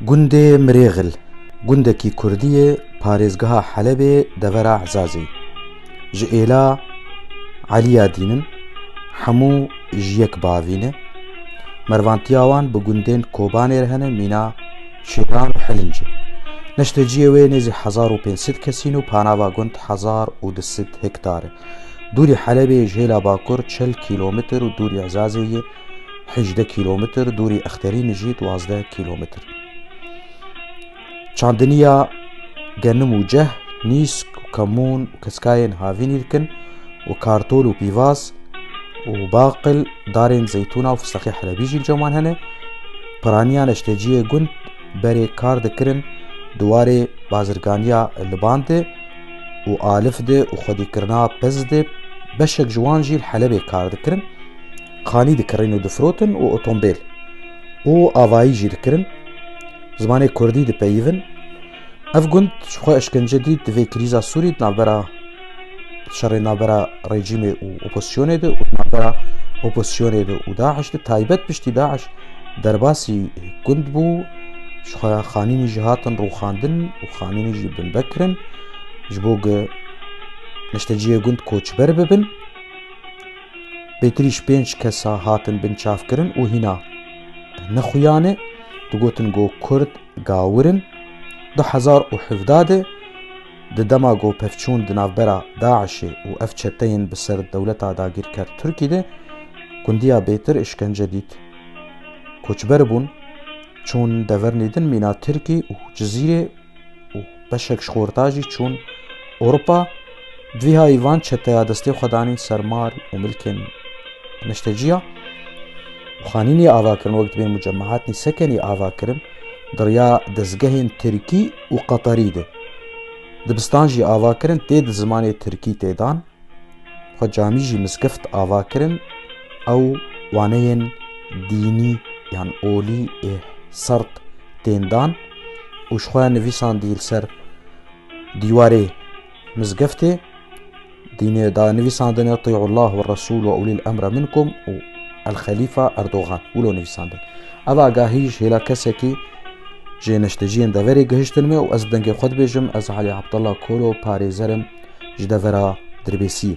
Gundê Mirêxil gundekî kurdî yê parêzgeha Helebê devera Ezazê. Ji êla Eliya dîn in, hemû ji yek bavî ne. Mervantiya wan bi gundên Kobanê re hene mîna Şêran û Hilinc e. Neştê ciyê wê nêzî hezar û pênc sed kes in û panava gund hezar û du sed hektar e. Dûrî Helebê ji hêla bakur çil kîlometr û dûrî Ezazê yê. hejdeh kîlometr, dûrî Exterînê jî duwazdeh kîlometr. Çandiniya genim û ceh, nîsk û kemûn û keskayên havînî dikin û kartol û pîvaz û baqil darên zeytûna û fistexê helebî jî li ceman hene. Piraniyan eşteciyê gund berê kar dikirin di warê bazirganiya Liban de û Alif de û xwedîkirina piz de beşek ji wan jî li Helebê kar dikirin. Kanî dikirîn û difrotin û otombêl û avayî jî dikirin. Zimanê Kurdî dipeyivin. Ev gund ji xwe eşkence dît di vê krîza Sûrî di navbera şerê navbera rejîmê û opozisyonê de û di navbera opozisyonê de û Daeş de taybet piştî Daeş derbasî gund bû ji xwe xanînî jî hatin rûxandin û xanînî jî binbe kirin ji bo ge neşteciyê gund koçber bibin. Pêtrîş pênc kesa hatin binçavkirin û hîna ne xuyan e, digotin go Kurd gawir in. Du hezar û hevdeh de di dema go pevçûn di navbera DAIŞê û ev çeteyên bi ser dewleta dagîrker Tirkî de gundiya bêtir îşkence dît. Koçber bûn, çûn devernî din mîna Tirkî û Cizîrê. û beşek ji xorta jî çûn Ewropa. Divîhayî van çeteya destê xwe danîn ser mal û milkên neşteciya û xanînê ava kirin wek dibên mucemehatnî sekenî ava kirin diriya dezgehên tirkî û qeterî de dibistan jî ava kirin tê di zimanê tirkî tê dan Xwe camî jî miskift ava kirin ew waneyên dînî yan olî ê sert tên dan û ji xwe nivîsandî li ser dîwarê mizgiftê dînê da nivîsandine tî'ullah we resûl we ulîl emre minkum û el xelîfa Erdogan wilo nivîsandin. Ev agahî ji hêla kesekî jê neşteciyên deverê gihiştin me û ez bi dengê xwe dibêjim ez Alî Abdullah Kolo parêzer im ji devera Dirbêsiyê.